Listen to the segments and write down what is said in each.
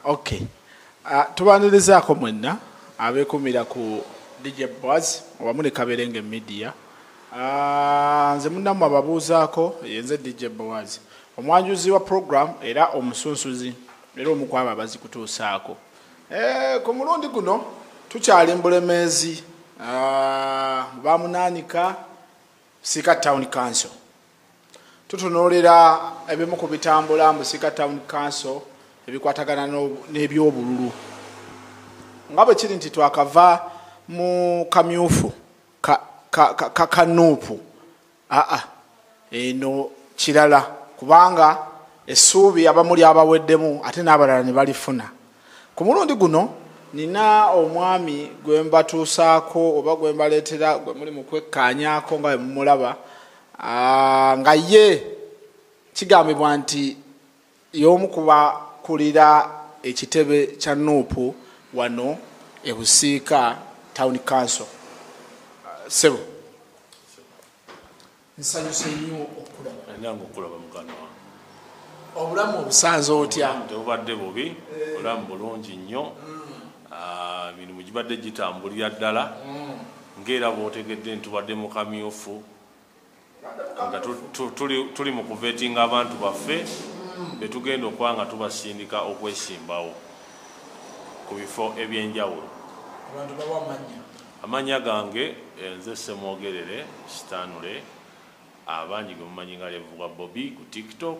ok uh, ah, tubanirizaako mwenna abekumira ku dj boas owamu ne kaberenge media uh, nze munamu ababuuzaako yenze dj boas omwanjuzi wa program era omusunsuzi era omukwaba abazikutuusaako eh, ku mulundi guno tukyali mbulemeezi uh, ah, bamunanika sika town council tutunuulira ebimu ku bitambula mu sika town council ebikwatagana n'ebyobululu nga bwe kiri nti twakava mu kamyufu kakanuupu aa eno kirala kubanga essuubi abamuli abaweddemu ate n'abalala ne balifuna ku mulundi guno nina omwami gwe mbatuusaako oba gwe mbaleetera gwe muli mu kwekkaanyaako nga bwe mumulaba nga ye kigambibwa nti y'omu kubakulira ekitebe kya nuupu wano ebusiika town council sebo nsanyuse nnyo okulaba obulamu obusanze otya obadde bubi obulamu bulungi nnyo mm. Emirimu gibadde gitambulira ddala ng'era bw'otegedde ntubadde mu kamyufu nga tuli mu kuvetinga abantu baffe betugenda okuba nga tubasindika okwesimbawo ku bifo eby'enjawulo amannya gange eh, nze semwogerere sitanule abangi gwe mumanyi nga levugwa bobi ku tiktok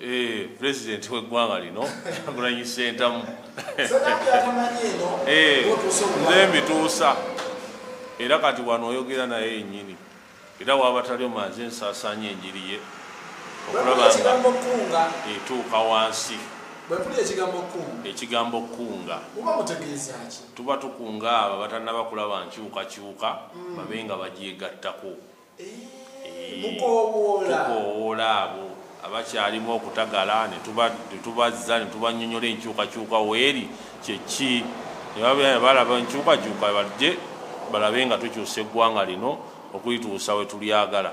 Eh, president weggwanga lino agulanyi sentamu eh, nze mbituusa era kati wano oyogera naye yenyini era wabataliyo manzi ensasanya enjiri ye okulaba nga etuuka wansi ekigambo kukunga tuba tukunga abo abatanaba kulaba nkyukakyuka hmm. babe nga bagyegattako tukowoola abo abakyalimu okutagala netubazza netubanyonyola enkyukakyuka weeri kyeki balaba enkyukakyuka balije balabe nga tukyusa eggwanga lino okulituusa wetulyagala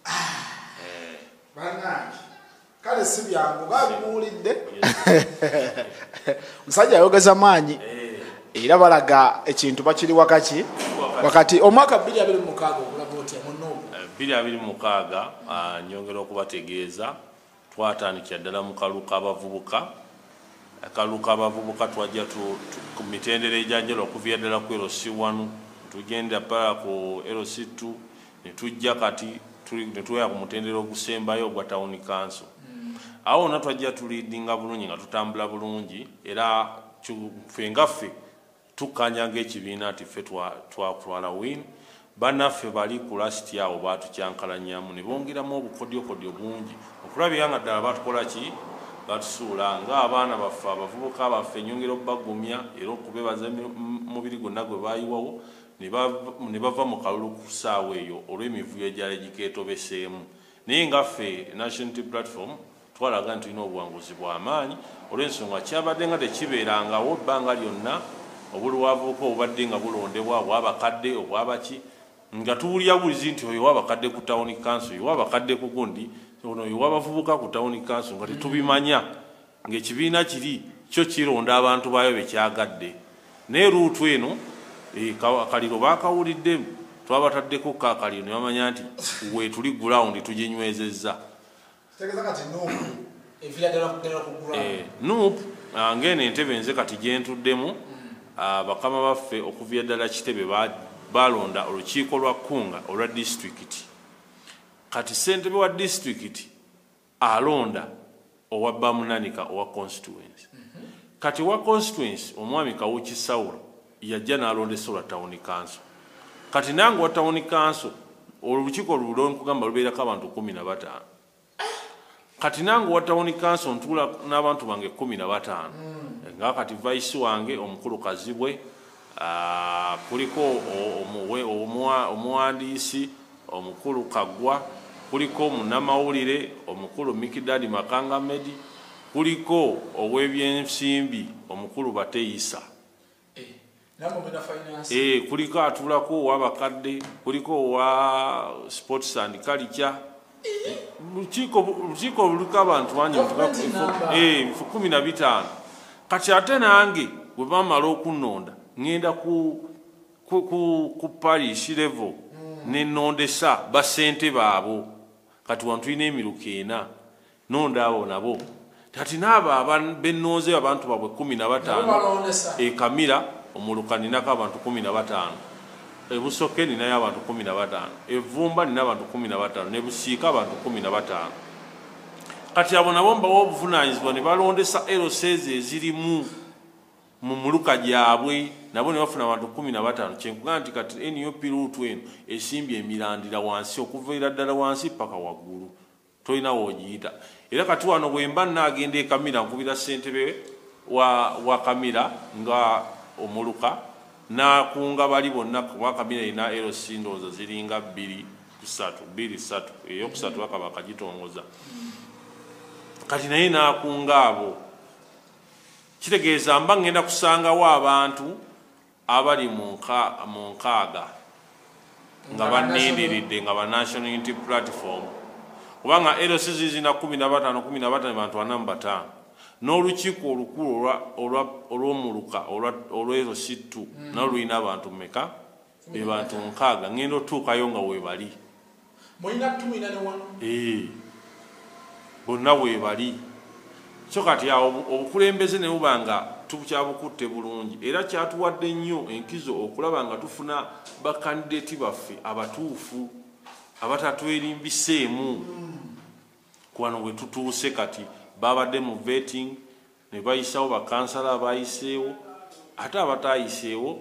ah, eh. kale si byangu babimuwulidde musajja ayogeza maanyi eh. era balaga ekintu bakiri wakaki wakati omwaka 226 ogulaba otya munuubu 226 eh, ah, nyongera okubategeeza twatandikira ddala mu kalu k'abavubuka akalu k'abavubuka twajja ku mitendera egyanjala okuviira ddala ku lc 1 tugenda pala ku lc 2 ne tujja kati ne tuwera ku mutendera ogusembayo ogwa tawuni kanso awo wonna twajja tuliidinga bulungi nga tutambula bulungi era ffe nga ffe tukkanya ngaekibiina nti ffe twatwala win banaffe bali ku lasiti awo batukyankalanyamu ne bongeramu obukodyokodyo bungi okulabira nga ddala batukola ki batusuula ngaabaana baffe abavubuka baffe enyongera okubagumya era okubebaza mubiri gwonna gwe bayiwawo ne bava mu kalulu ku ssaawa eyo olw'emivuyo egyali gikeetobeseemu naye nga ffe National Unity Platform twalaga nti tulina obuwanguzi bwa maanyi olw'ensonga kyabadde nga tekibeerangawo ebbanga lyonna obuli wavubuka obubadde nga bulondebwa obwabakadde obwabaki nga tuwulira bulizi nti oyo wabakadde ku tawuni kanso oyo wabakadde ku gundi ono oyo wabavubuka ku tawuni kanso nga tetubimanya ng'ekibiina kiri kyo kironda abantu baayo be kyagadde naye luutu eno eh, akaliro baakawulidde twabataddeko ko akaliro ne bamanya nti weetuli gulawundi tuginywezezza eh, nup ah, ng'eno entebe nze kati gyentuddemu ah, bakama baffe okuvira ddala kitebe baalonda olukiiko lwa kkunga olwa disitulikiti kati ssentebe wa disitulikiti alonda owa bamunanika owa constituency kati wa constituency omwami kawuki saulo yajja nalonda esola town council kati nange wa town council olukiiko lulo nkugamba lubeerako abantu kumi na bataano kati nange wa town council ntuula n'abantu bange kumi na bataano nga kati vice wange omukulu kazibwe Kuliko omuwandiisi omukulu Kaggwa, kuliko munnamawulire omukulu Mikidadi Makanga Medi, kuliko ow'ebyensimbi omukulu Bateisa, kuliko atuulako ow'abakadde, kuliko owa sports and culture, lukiiko lukiiko luliko abantu bangi eh, nfu kumi na bitaano kati ate nange bwe bamala okunonda ŋŋenda ku parish level hmm. ne nondesa basente baabo kati wantulina emiruka ena nonda abo nabo kati naabo benonzeyo abantu babwe kumi na bataano ekamira omuluka ninako abantu kumi na bataano ebusoke ninayo abantu kumi na bataano evumba nina abantu kumi na bataano nebusiika abantu kumi na bataano kati abo nabo mbawa obuvunanyizibwa ne balondesa lcs ezirimu mu muluka gyabwe nabo ne bafuna abantu kumi na bataano kyenkugaa nti kati nup luutu eno esimbye emirandira wansi okuvaira ddala wansi paka waggulu tolina wojiyita era kati wano bwemba nagenda ekamira nkubira sentebe wa, wa kamira nga omuluka nakunga bali bonna kuba kamira erina lc ndowooza ziringa bbiri kusatu bbiri satu eyokusatu bakaba kagitongoza kati naye nakunga abo kitegeeza mba ngenda kusangawo abantu abali mu mu nkaaga nga banindiridde nga ba National Unity Platform kubanga LC zizina kumi na batano kumi na batano bantu ana mu bataano n'olukiiko olukulu olw'omuluka olw'ero sittu mm. nalwo lulina abantu meka be bantu nkaaga ngenda otuukayo nga webali mulina tumina ne wano ee bonna webali so kati awo obukulembeze ne buba nga tukyabukutte bulungi era kyatuwadde nnyo enkizo okulaba nga tufuna bakandideti baffe abatuufu abatatwerimbiseemu kuwano bwe tutuuse kati babadde mu vetting ne bayisawo bakansala abayiseewo ate abatayiseewo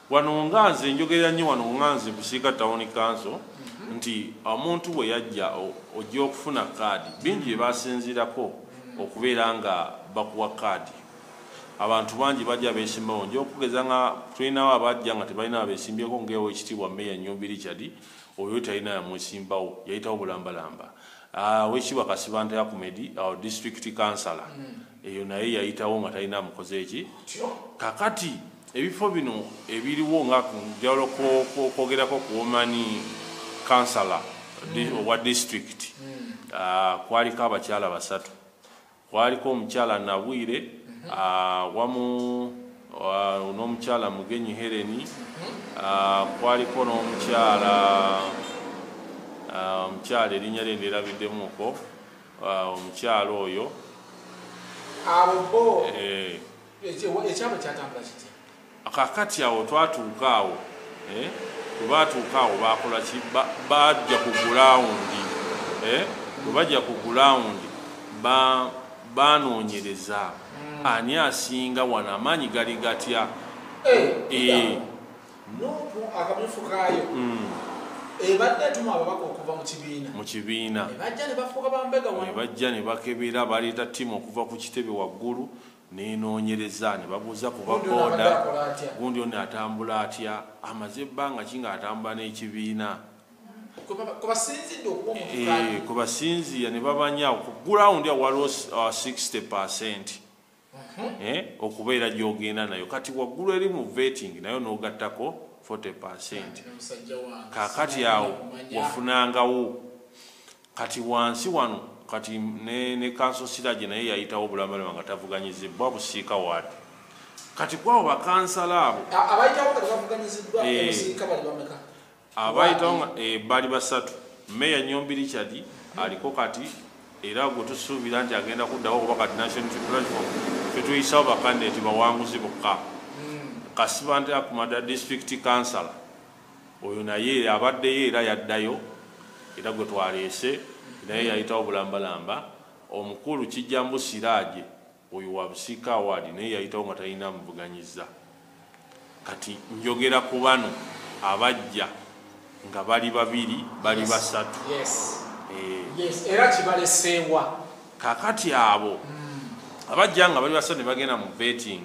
Wano nga nze njogerera nnyo wano nga nze Busiika Town Council nti omuntu bwe yajja ojja okufuna kaadi bingi bye basinziirako okubeera nga bakuwa kaadi abantu bangi bajja beesimbawo nja okugeza nga tulinawo abajja nga tebalina abeesimbyeko ngaewo ekitiibwa meeya nyumbi richard oyo talina yamwesimbawo yayitawo bulambalamba ah, wekitiibwa kasibanta yakumedi our district councilor mm. eyo naye yayitawo nga talina amukoze ki kakati ebifo bino ebiriwo nga njawulo kwogerako kuomani kansala hmm. owa disitulikiti hmm. ah, kwaliko abakyala basatu kwaliko omukyala nabwire hmm. ah, wamu ah, n'omukyala mugenyi hereni kwaliko n'omukyala omukyala erinnya lye nderabiddemuko Ah, omukyalo oyo abo bo eh. ekyabo kyatambula kiti kakati awo twatuuka awo eh? webatuuka awo bakola ki bajja ku gulawundi eh? webajja ku gulawundi banoonyereza hmm. ani asinga wano amaanyi gali gatya nupu akamyufu kaayo mm. ebadde etuma ababaka okuva mu kibiina mu kibiina ebajja ne bafuuka bambega wano ebajja ne bakebera baleeta ttiimu okuva ku kitebe waggulu nenoonyereza ne babuuza ku baboda gundi ono atambula atya amaze ebbanga ki nga atambula n'ekibiina kwebasinziira eh, ne bamanya ku gulawundi awaliwo 60 uh, percenti mhm. eh, okubeera gyogenda nayo kati waggulu eri mu vetting nayo nogattako 40 percent kakati awo wafunangawo kati wansi wano kati ne, ne kanso siraje naye yayitawo bulamalama nga tavuganyizibwa busiika wadi kati kwabo bakansala abo abayitawo kati bavuganyiziddwa eh. obusiika bali bameka abayitawo nga eh, bali basatu meya nyombi richard aliko kati era gwe tusuubira nti agenda kuddawo kuba kati national platform fetuyisawo bakandidati bawanguzi bokka hmm. kasibante akumada district council oyo naye abaddeyo era yaddayo era gwe twaleese naye yayitawo bulambalamba omukulu kijjambu siraaje Oyo wa Busiika Award naye yayitawo nga talina amuvuganyizza. Kati njogera ku bano abajja nga bali babiri bali basatu. Yes. Eh. Yes. Era kibaleseewa. Kakati abo mm. abajja nga bali basatu ne bagenda mu vetting.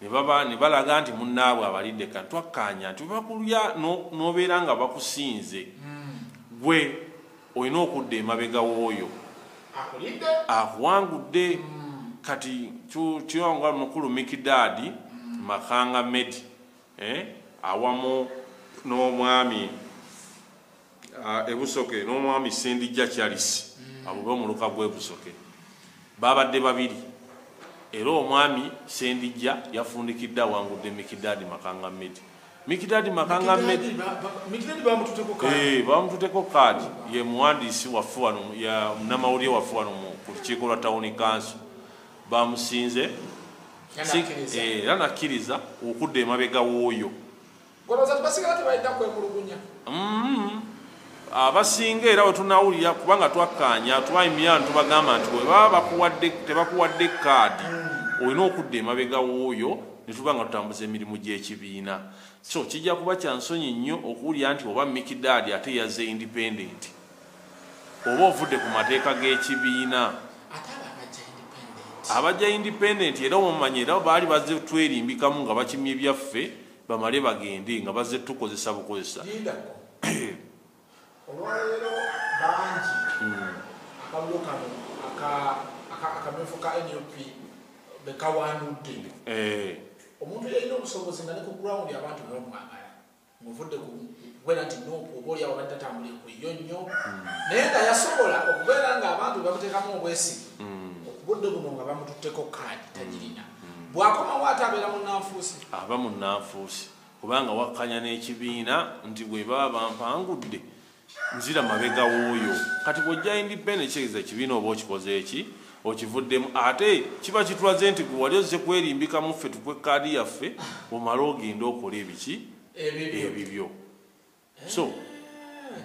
nebaba ne balaga nti munnaabwe abalidde kati twakkaanya nti webakulya n'obeera nga bakusinze hmm. gwe olina okudda emabega w'oyo akuwangudde hmm. kati kyoyonga mukulu mikidaadi hmm. makanga medi eh, awamu n'omwami ah, ebusoke n'omwami sendijja charisi mm. abo b'omuluka gw'ebusoke baabadde babiri era omwami sendijja yafundikidde awangudde mikidaadi makanga medi mikidaadi makanga medi bamututeko eh, kaadi ye muwandiisi waffe wano munamawulire waffe wano ku lukiiko lwa tawuni kanso bamusinze era eh, nakkiriza okudda emabega w'oyo Mm-hmm. abasinga era wetunawulira kubanga twakkaanya twaimyani tubagamba nti webaba tebakuwadde kaadi olina okudda emabega wooyo netuba nga tutambuza emirimu gy'ekibiina so kijja kuba kya nsonyi nnyo okuwulira nti oba mikidaadi ate yaze independenti oba ovudde ku mateeka g'ekibiina abajja independenti era omumanya era baali bazze twerimbikamu nga bakimye byaffe bamale bagende nga bazze tukozesa bukozesa olwaleero bangi hmm. akalulu kano akamyufu ka nup bekawandudde eh. omuntu yalina obusobozi nga ne ku ground abantu bebamwagala muvudde kubeera nti nup oba oli awo bali tatambulire ku yo nnyo hmm. naye nga yasobola okubeera ngaabantu bebamuteekamu obwesigi hmm. obudde buno nga bamututteko kaadi tagirina bwakomawo ate abeera munanfuusi aba munanfuusi kubanga wakkanya n'ekibiina nti bwe baba bampangudde nzira mabega wuuyo kati bwojja independekitegeeza ekibiina oba okikoze eki okivuddemu ate kiba kitulaze nti gwe wali ozze kwerimbika muffe tukwe kaadi yaffe omale ogende okola ebiki ebibyo so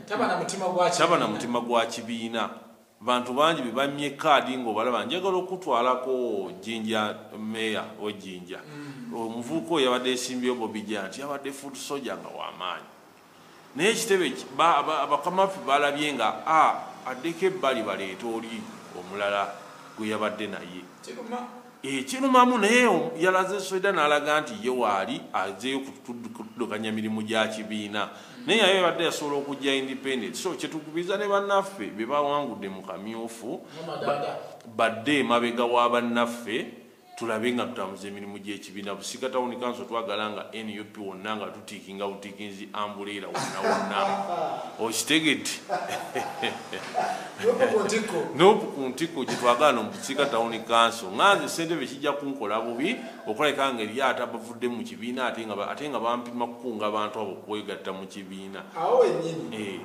taba na mutima gwa taba na mutima gwa kibiina bantu bangi bebamye kaadi ngaobalaba njagala okutwalako jinja meya wejinja mm. omuvuuka oyo yabadde esimbyeyo bobija nti yabadde foot soja nga wamaanyi naye ekitebe abakamaffe balabye nga a addeko ebbali baleeta oli omulala gwe yabadde naye ekirumamu naye yalaze soida nalaga nti ye waali azeyo kutudukanya mirimu gya kibiina naye yayo ebadde yasobola okujja independent so kyetukubiza ne bannaffe be bawangudde mu kamyufu badde emabega wa bannaffe tulabe nga tutambuza emirimu gy'ekibiina busiga tawuni kanso twagala nga nup wonna nga tikinga butikinzi ambuleera wonna wonna okitegedde nopu ku ntiko gyetwagala nomukiika tawuni kanso nganze sentebe kijja kunkola bubi okulabika nga eri ate abavudde mu kibiina ate nga bampima kukunga abantu abo kwegatta mu kibiina awo wenyini eh.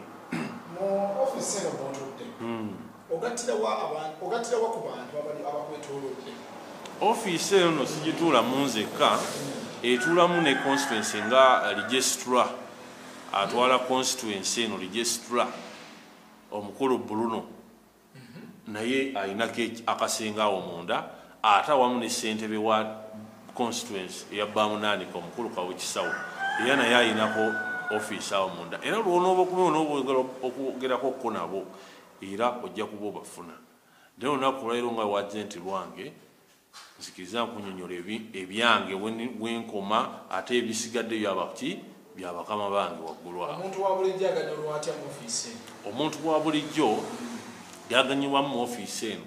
mu ofisi eno mutudde hmm. ogattira wa abantu ogattira wa ku bantu abali abakwetoolodde ofiisi eyo no sigituulamu nzekka etuulamu ne constituency nga registra atwala constituency eno registra omukulu bruno mhm. naye alinako akasinga awo munda ate awamu ne ssentebe wa constituency eya bamunaanika omukulu kawekisawo era naye alinako ofiisi awo munda era lwonooba okuba onooba ogerako okuko nabo Era ojja kuba obafuna. Naye olunaku olwaleero nga wajenti lwange, nzikiriza nkunyonyola ebyange wenkoma ate ebisigadde byaba ki bya bakama bange waggulu awo. Omuntu wa bulijjo aganyulwa atya mu ofiisi eno? Omuntu wa bulijjo gyaganyulwamu mu ofiisi eno.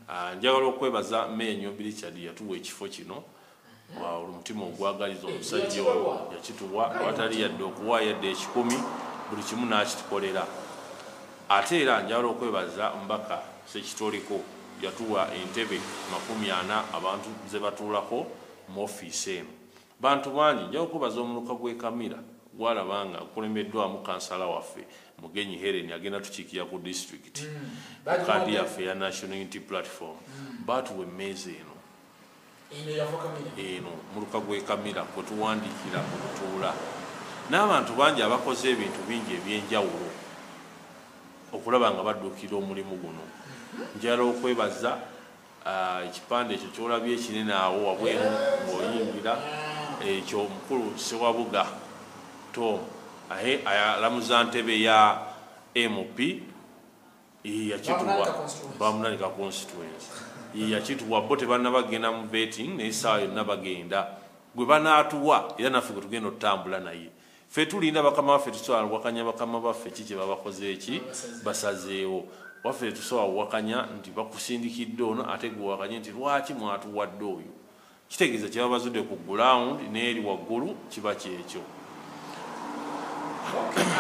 Ah, njagala okwebaza Meeya Nyombi Richard yatuwa ekifo kino omutima ogwagaliza omusajja oyo yakituwa awatali yadde okuwa yadde ekikumi buli kimu n'akitukolera ate era njala okwebaza mbaka sekitoliko yatuwa entebe makumi ana abantu ze batuulako mu ofiisi emu bantu bangi njala okwebaza omuluka gw'ekamira gwalaba nga kulembeddwamu kansala waffe mugenyi helen agenda tukiikira ku disitulikiti mm. kaadi yaffe ya national unity platform mm. baatuwa emmeeza eno eno muluka gwekamira kwetuwandiikira mu lutuula n'abantu bangi abakoze ebintu bingi ebyenjawulo okulaba nga badduukira omulimu guno njala okwebaza ah, ekipande ekyo kyolabye ekinene awo wabweru ng'oyingira ekyo mukulu sewabuga tom ahe alamuza ntebe ya mp bamunanika constituency yakituwa bo tebanna bagenda mu betting naye saawa yonna bagenda gwe banaatuwa era naffe gwe tugenda otutambula naye fe tulinda bakama baffe tusobola wakanya bakama baffe ki kyebabakoze eki basazeewo waffe tusobola wakanya nti bakusindikidde ono ate gwewakanye nti lwaki mwatuwadde oyo Kitegeeza kye baba bazudde ku gulawundi n'eri waggulu kiba kyekyo.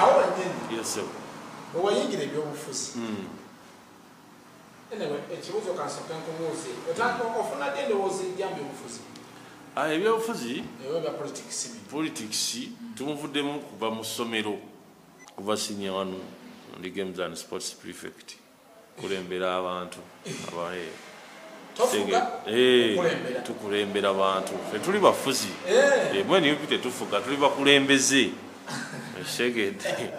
Awo wennyini bwe wayingira ebyobufuzi hmm. ekibuuzo kansooke nkubuuze ofuna ddi endowooza ejja mu byobufuzi? Ah, ebyobufuzi politics tumuvuddemu kuva mu ssomero kuva sinior wanu ndi games and sports prefect. kulembera abantu abaye eh, tukulembera bantu tetuli bafuzi eh. eh, mweni yupi tetufuga tuli bakulembeze esegede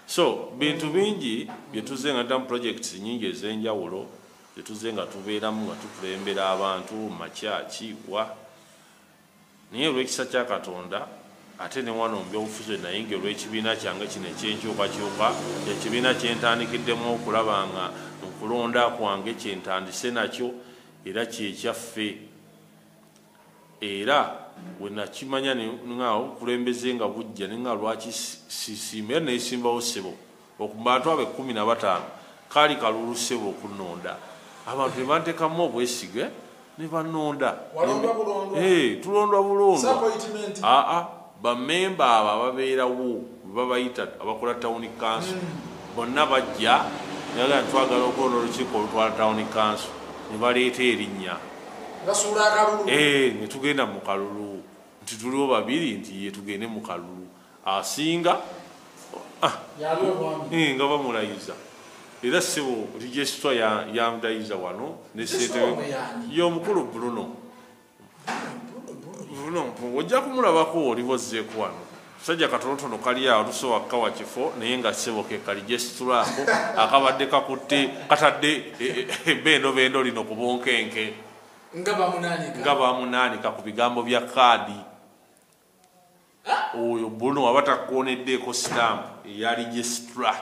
so bintu bingi byetuze nga damu projects nyingi ezenjawulo byetuze nga tubeeramu nga tukulembera abantu makyaki wa Naye olw'ekisa kya Katonda, ate ne wano mu by'obufuzi we nayingira olw'ekibiina kyange kino eky'enkyukakyuka, kye kibiina kye ntandikiddemu okulaba nga nkulonda kwange kye ntandise nakyo era kye kyaffe. Era we nakimanya ne nga obukulembeze nga bujja ne nga lwaki sisiima era nesimbawo ssebo. Okubantu abo ekkumi na bataano kaali kalulu ssebo okunonda abantu ne bantekamu obwesige ne banonda eh, tulondwa bulondwa aa bamemba abo ababeerawo webabayita abakola tawuni kanso hmm. bonna bajja naga twagala okulonda olukiiko olutwala tawuni kanso ne baleeta erinnya eh, ne tugenda mu kalulu nti tuliwo babiri nti yetugende mu kalulu asinga ah, eh, nga bamulayiza era sibu registra yamudayiza wano yomukulu bruno bruno mpungu ojja kumulabako oliba ozzeeku wano sajja katonotono kali awo tusobola kukawa kifo naye nga sibo kekali gesitulaako akabadde kakutte katadde e, e, e, bendobendo lino ku bunkenke nga bamunaanika ku bigambo bya kaadi oyo bruno waba takkoneddeeko sitampu eya registra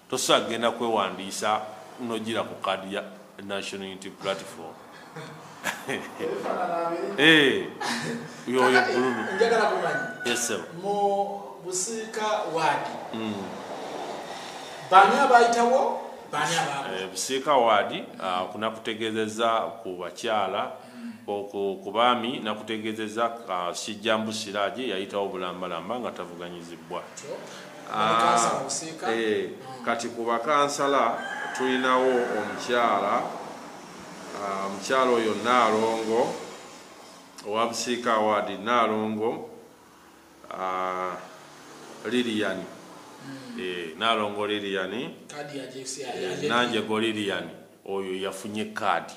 tosobola kugenda kwewandiisa nogira ku kaadi ya national unity platform eh, yoyo bruno busiika waadi hmm. bani abayitawo bani ababusiika eh, waadi ah, kunakutegeezeza ku bakyala okwo ku baami nakutegeezezza uh, kijjambu siraaje yayitawo bulambalamba nga tavuganyizibbwa ah, eh, kati ku bakansala tulinawo omukyala ah, omukyala oyo naalongo owa busiika awaadi naalongo ah, liliyani hmm. eh, naalongo liliyani nanjego liliyani oyo yafunye kaadi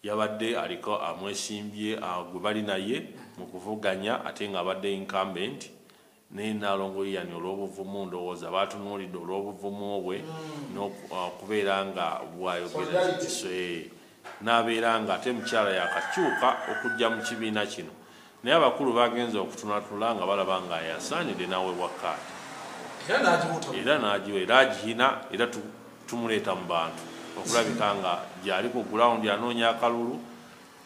Yabadde aliko amwesimbye gwe bali naye mu kuvuganya ate ng'abadde incumbent naye Nnaalongo Ian olw'obuvumu ndowooza baatunuulidde olw'obuvumu bwe n'okubeera nga bw'ayogera n'abeera ng'ate mukyala yaakakyuka okujja mu kibiina kino Naye abakulu bagenze okutunatula nga balaba nga ayasaanide n'awebwa kaadi era n'agiwa era agiyina era tumuleeta mu bantu okulabika nga gyali ku gulawundi anoonya akalulu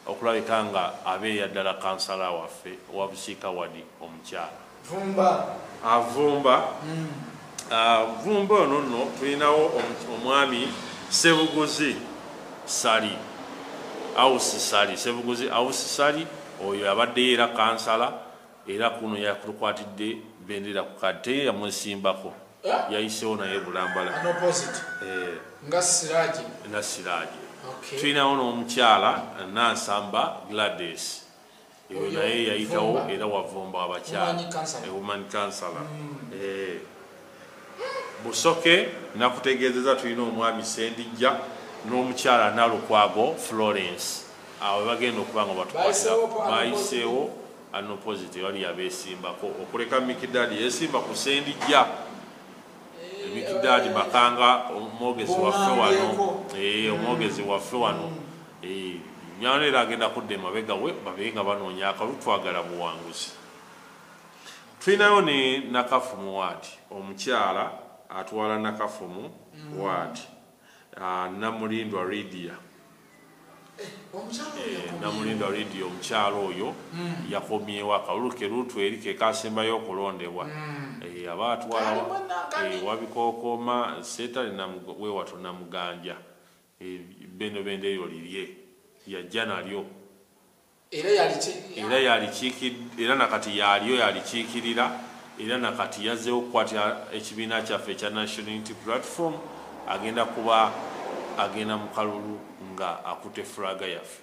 okulabika nga abeera ddala kansala waffe owa Busiika Wadi omukyala. vumba avumba mm. ah, vumba ono nno tulinawo omwami sebuguzi sali ausi sali sebuguzi ausi sali oyo abaddeyo era kansala era kuno yakutukwatidde bendera ku kate yamwesimbako eh? yayisewo naye bulambala eh. nga siraje tulinawo n'omukyala nansamba gladys eyo naye yayitawo era wavumba abakyala ewoman kansala busoke nakutegeezeza tulina omwami sendijja n'omukyala nalukwago florence awo bagenda okuba nga batukwatira bayiseewo anopositi bali yabesimbako okuleka mikidaadi yesimba ku sendijja eh, mikidaadi makanga omwogezi waffe wano eh, omwogezi waffe wano Miano era agenda kudda emabega we babe nga banoonya akalulu twagala buwanguzi. Tulinayo ne Nakafumu waadi omukyala atwala Nakafumu waadi ah, Namulindwa Lydia eh, Namulindwa Lydia omukyala oyo hmm. yakomyewo akalulu ke luutu eri ke kasembayo okulondebwa hmm. eh, aba atwala eh, wabikookoma seetale wewato namuganja Ebbendobendo eryo lirye, lya jja nalyo, era yalikiikid, era na kati yalyo yalikiikirira, era na kati yazzeewo okukwata ekibiina kyaffe ekya National Unity Platform, agenda kuba agenda mu kalulu nga akutte flag yaffe.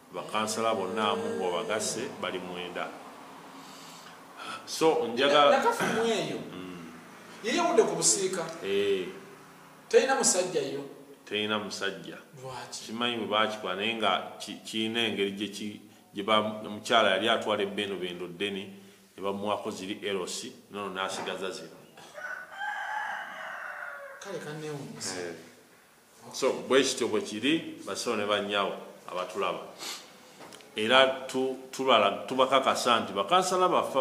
bakansala bonna amu ng'obagasse bali mwenda so njagalaakafumu eyo mm. yeyawudde ku busiika eh. terina musajja yo terina musajja kimanyi bwe bakikola naye nga kirina engeri gyemukyala yali atwala ebbeeno bendo ddeni ne bamuwako ziri erosi nono n'asigaza zino kale kanewunyisa eh. so bwekityo bwekiri basawo ne banyawo abatulaba era tubakakasa nti bakansala baffe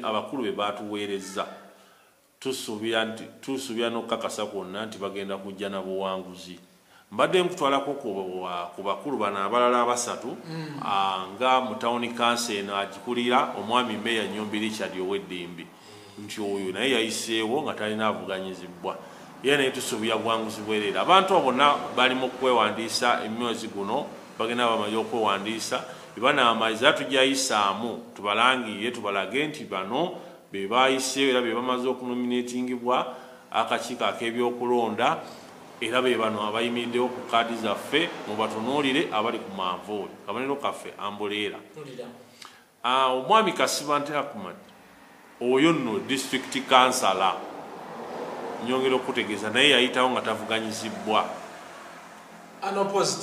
abakulu be batuweerezza tusuubira nti tusuubira n'okukakasa kwonna nti bagenda kujja na buwanguzi mbadde nkutwalako ku bakulu bano abalala abasatu mm. ah, nga mu tawuni kansi eno agikulira omwami meya nyombi richard oweddimbi nti oyo naye yayiseewo nga talina avuganyizibbwa era naye tusuubira bwanguzibwereera abantu abo bonna bali mu kwewandiisa emyozi guno bagenda bamaze okwewandiisa ebanaamaliza era tujayisaamu tubalangiire tubalage nti bano be baayiseewo era be bamaze okunominatingibwa akakiiko ak'ebyokulonda era be bano abayimiriddewo ku kaadi zaffe mubatunuulire abali ku manvuuli kabanero kaffe ambuleera Ah, omwami kasibante akumat oyo nno district kansala nyongera okutegeeza naye yayitawo nga tavuganyizibwa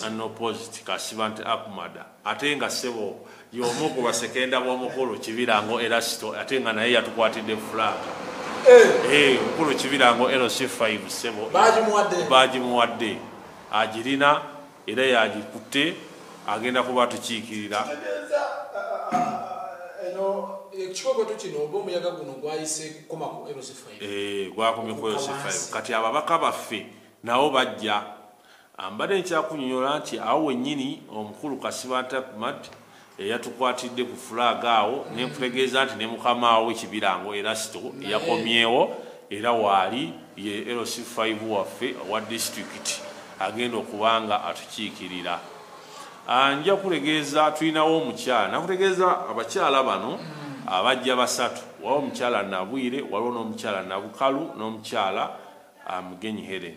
anoposit kasibante akumada ate nga sebo yomu ku basekenda b'omukulu kibirango erasito ate nga naye yatukwatidde fulaaka eh. eh, omukulu kibirango lc 5 sebo bagimuwadde agirina era yagikutte agenda kuba atukiikirira ekikokoto kino oba omuyaga guno gwayise kukoma ku eh, gwakomye ku lc5 kati ababaka baffe nabo bajja ah, mbadde nkyakunyonyola nti awo wennyini omukulu kasibanta kumat eyatukwatidde ku flag awo mm. nenkutegeeza nti ne mukamaawo kibirango erasto yakomyewo era waali ye lc 5 waffe owa disitulikiti agenda okuba nga atukiikirira ah, nja kutegeeza tulinawo omukyala nakutegeeza abakyala bano mm. abajja basatu waliwo omukyala nabwire waliwo n'omukyala nabukalu n'omukyala ah, mugenyi helen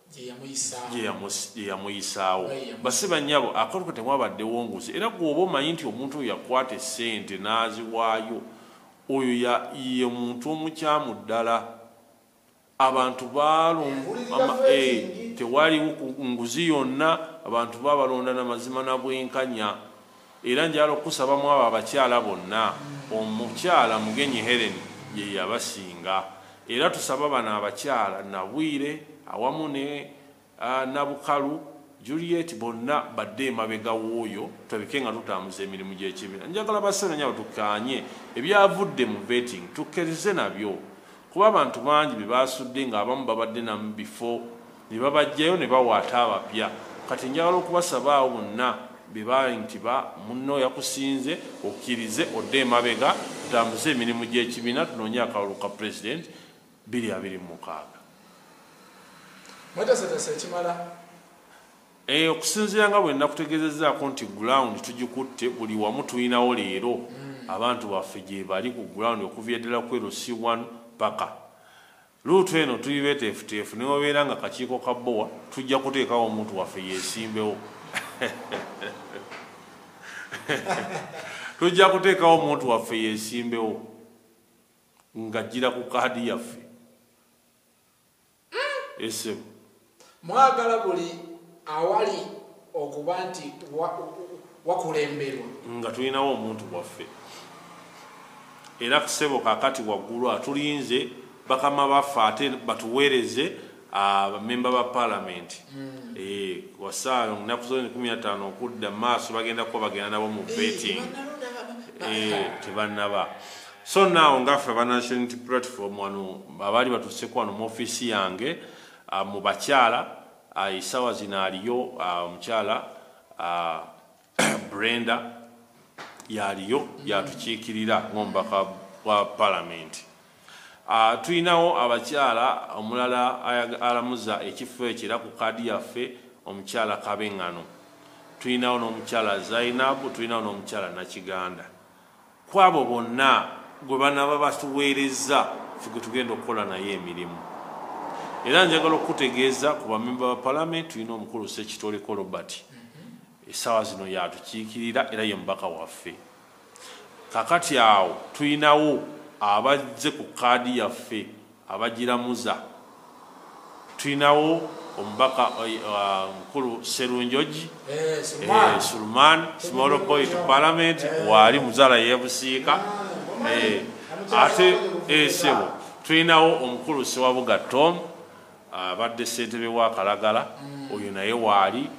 gye yamuyisaawo basiba nnyabo akatuka temwabaddewo nguzi era gweoba omanyi nti omuntu oyo yakwata essente n'aziwaayo oyo ye muntu omukyamu ddala abantu eh, tewaliwo nguzi yonna abantu babalonda na mazima na bwenkanya Era njagala okukusaba mu abo abakyala bonna, omukyala Mugenyi Hellen ye yabasinga. Era tusaba bano abakyala, Nabwire awamu ne Nabukalu, Juliet, bonna badde emabega w'oyo tulabike nga tutambuza emirimu gy'ekibiina. Njagala ba Ssenanyabo tukkaanye ebyavudde mu vetting tukkerizze nabyo kuba abantu bangi bye basudde ng'abamu babadde na mu bifo ne babajjayo ne bawaata abapya kati njagala okubasaba awo bonna bebaali nti ba munno yakusinze okkirize odde emabega tutambuze emirimu gy'ekibiina tunoonye akalulu ka pulezidenti 226 eh, okusinziira nga bwe nakutegezezaako nti gulawundi tugikutte buli wamu tulinawo leero hmm. abantu baffe gyebali ku gulawundi okuva eddala kwerusi 1 paka Luutu eno tuli beteefuteefu newabeera nga kakiiko ka bowa tujja kuteekawo omuntu waffe yesimbewo tujja kuteekawo omuntu waffe yesimbewo ngajjira ku kaadi yaffe esebo Mwagala buli awali okuba nti wakulemberwa nga tulinawo omuntu bwaffe era kusebo kakati waggulu atulinze bakama baffe ate batuweereze abamemba ah, ba palamenti hmm. eh, wasaayo nnaku zoni kumi nataano okudda maaso bagenda kuba bagenda nabo mu eh, betting eh, tebannaba so naawo ngaffe abanationality platform wano abaali batuseku wano mu ofiisi yange Mu bakyala esawa zino aliyo omukyala Brenda yaliyo yatukiikirira ng'omubaka wa palamenti. Tulinawo abakyala omulala alamuza ekifo ekyo era ku kaadi yaffe omukyala Kabengano, tulinawo n'omukyala Zainab, tulinawo n'omukyala Nakiganda. Ku abo bonna gwe banaaba batuweerezza ffe gwe tugenda okukola naye emirimu era njagala okukutegeeza ku bamemba ba palamenti tulina omukulu sekitoliko robert essaawa zino yatukiikirira era ye mubaka waffe kakati awo tulinawo abazze ku kaadi yaffe Abagiramuza tulinawo omubaka mukulu Serunjoji eh, Sulman eh, small boy to parliament waali muzala yebusiika eh, ate esebo tulinawo omukulu Sewabuga Tom abadde ssentebe wa Kalagala mm. oyo naye waali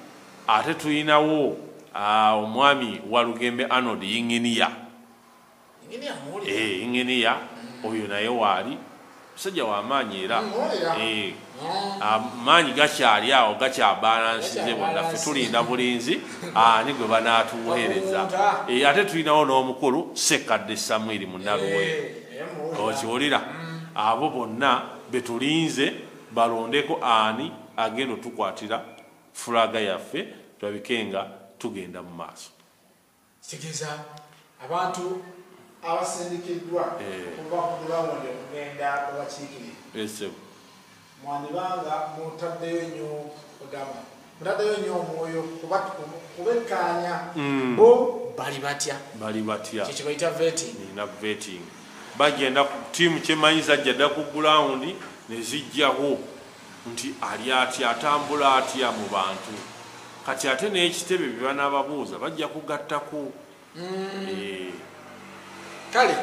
ate tulinawo ah, omwami Walugembe Arnold Yinginiya Eh, inginiya oyo naye waali musajja wamaanyi era eh, amaanyi gakyali awo gakyabalansize bonna fe tulinda bulinzi ani gwe banaatuweereza eh, ate tulinawo n'omukulu sekkadde samwiri munaluwe okiwulira mm. abo bonna betulinze balondeko ani agenda otukwatira fulaga yaffe tulabikenga tugenda mu maaso Kitegeeza abantu abasindikiddwa eh. okuva ku bulawundi okugenda obakiikirira eh, mwandibanga mutaddeyo nnyo kudama mutaddeyo nnyo omwoyo kubekkaanya hmm. bo bali batya bali batya kyekyo bayita vetting nina vetting bagenda tiimu kyemanyi zajja dda ku gulawundi ne zijjawo nti ali atya atambula atya mu bantu kati ate n'ekitebe bye banaababuuza bajja kugattako mm. eh. kale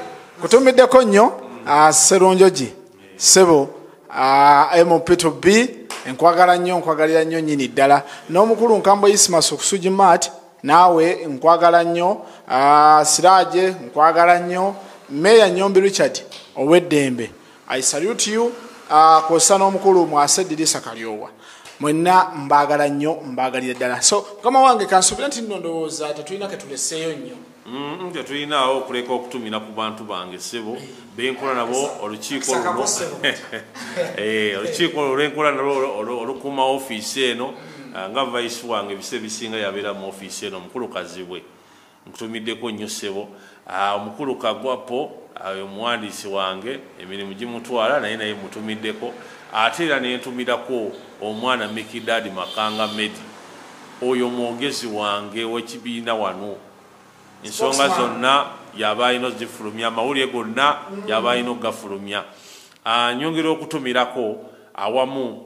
kutumiddeko nnyo mm. ah, serunjogi eh. sebo ah, mp to b enkwagala nnyo nkwagalira nnyo nyini ddala n'omukulu nkambwe isimas okusugi mat naawe nkwagala nnyo ah, siraje nkwagala nnyo meeya nyombi richard ow'eddembe I salute you uh, kwosa n'omukulu mwase dirisa kalyowa mwenna mbaagala nnyo mbaagalira ddala so mukama wange kansubira nti nno ndowooza tetulina ketuleseeyo nnyo mm, tetulinaawo okuleka okutumira ku bantu bange sebo benkola nabo olukiiko eh, olukiiko olwo lwenkola nalo olukuuma ofiisi eno ah, nga vaisi wange ebise bisinga yabeera mu ofiisi eno mukulu kazibwe Nkutumiddeko nnyo ssebo. Ah, omukulu kagwa po ayo ah, omuwandiisi wange emirimu gimutwala naye naye mutumiddeko ate era nentumirako omwana mikidadi makanga medi oyo mwogezi wange wekibiina wano ensonga zonna yaba alina ozifulumya amawulire gonna yaba alina okugafulumya ah, nyongera okutumirako awamu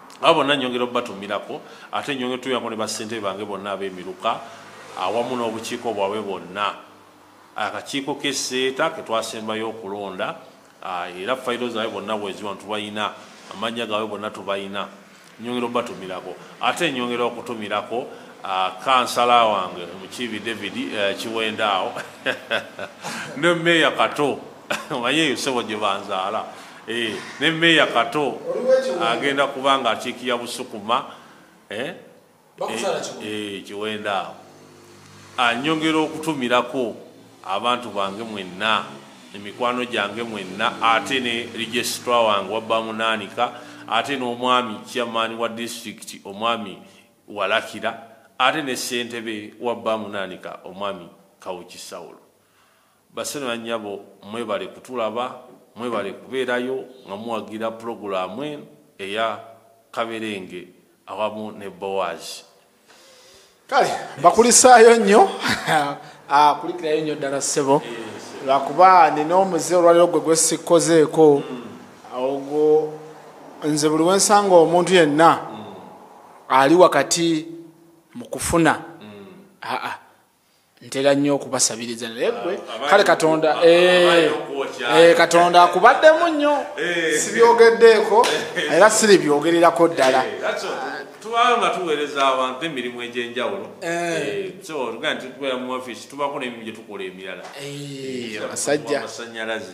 abo bonna nyongera obubatumirako ate nyongera otuyako ne basente bange bonna abemiruka awamu n'obukiiko bwabwe bwonna akakiiko keseeta ketwasembayo okulonda ah, era fayiro zaabwe bonna bweziwa tubalina amannya gaabwe bonna tubalina nyongera obubatumirako ate nyongera okutumirako ah, kansala wange mukiibi david eh, kiwendaawo ne meeya kato omanyi eyo sebo gye banzaala eh, ne meeya kato agenda kuba nga akiikirira busukuma eh, eh, kiwenda awo anyongera okutumirako abantu bange mwenna emikwano gyange mwenna ate ne registra wange wabba munaanika ate n'omwami chairman wa district omwami walakira ate ne ssentebe wabba munaanika omwami kawuki sawulo Baseno na nyabo mwebale kutulaba mwebale kuberayo nga muwagira pulogulamu eno eya kaberenge awamu ne bowazi kale bakulisaayo nnyo ah, kulikirayo nnyo ddala ssebo lwakuba nina omuze olwaliro gwe gwesikkozeeko ogwo nze buli wensanga omuntu yenna ali wakati mu kufuna aa ntera nnyo okubasabiriza naye gwe ah, kale katonda eh, eh, katonda akubaddemu nnyo eh. sibyogeddeeko era siri byogererako ddala tubanga nga tuweereza abantu emirimu egyenjawulo tubeera mu ofiisi tubako nemimu gyetukola emirala amasanyalaze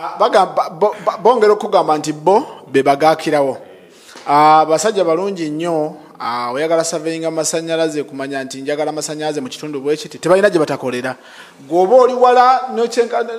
Ah, bongera okugamba nti bo bebagakirawo ah, basajja balungi nnyo ah, oyagala saveyinga masanyalaze kumanya nti njagala masanyalaze mu kitundu bwekiti tebalina gye batakolera gweoba oli wala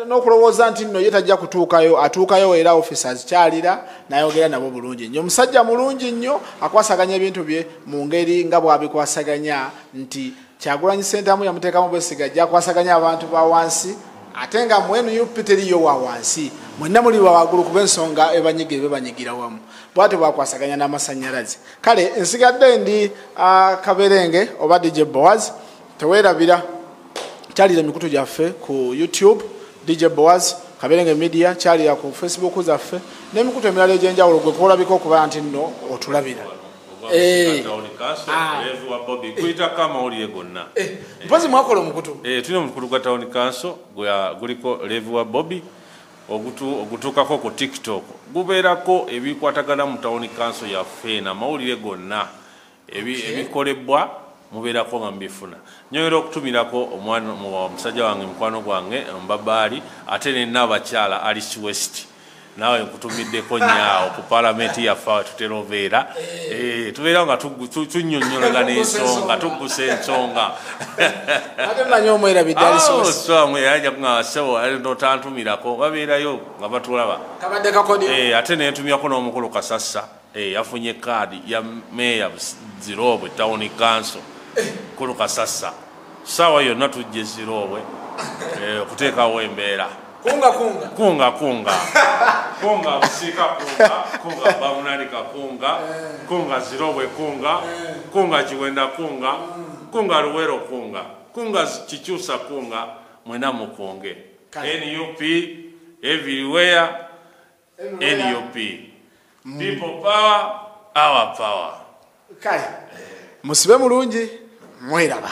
n'okulowooza nti nno ye tajja kutuukayo atuukayo era office azikyalira nayogera nabo bulungi nnyo omusajja mulungi nnyo akwasaganya ebintu bye mu ngeri nga bwabikwasaganya nti Kyagulanyi Sentamu yamuteekamu bwesiga ajja kwasaganya abantu ba wansi ate nga mu nup teriyo wa wansi mwenna muli bawagulu kuba ensonga ebanyiga ebe banyigira wamu bwatyo bakwasaganya n'amasannyalaze kale nsigadde ndi uh, kaberenge oba dj boaz tewerabira kyalira emikutu gyaffe ku youtube dj boaz kaberenge media kyalira ku facebook zaffe n'emikutu emirala egy'enjawulo gwe kuolabika okuba nti nno otulabira Eh. Ah. Eh, mpozi mwakola omukutu eh, tulina omukutu gwa tawuni kanso guliko levi wa bobi ogutuukako ku tiktok gubeerako ebikwatagana mu tawuni kanso yaffe eno amawulire gonna ebikolebwa mubeerako nga mubifuna nyoyera okutumirako omusajja wange mukwano gwange mbabaali ate nena abakyala alice west naawe nkutumiddeko nyaawo ku palamenti yaffe awe tutera obeera eh, tubeera nga tunyonyologa n'ensonga tuggusa ensonga notantumirako babeerayo nga batulaba eh, ate nentumyako n'omukulu kasassa Eyafunye kaadi ya meeya Ziroobwe tawuni kanso Kulu Kasassa ssaawa yonna tujja eziroobwe eh, okuteekawo embeera kunga kunga kunga kunga kunga busika kunga kunga bamunani kakunga eh. kunga ziroobwe kunga eh. kunga kiwenda kunga mm. kunga luwero kunga kunga kikyusa kunga mwena mukunge nup everywhere nup people power our power kale musibe mulungi mweraba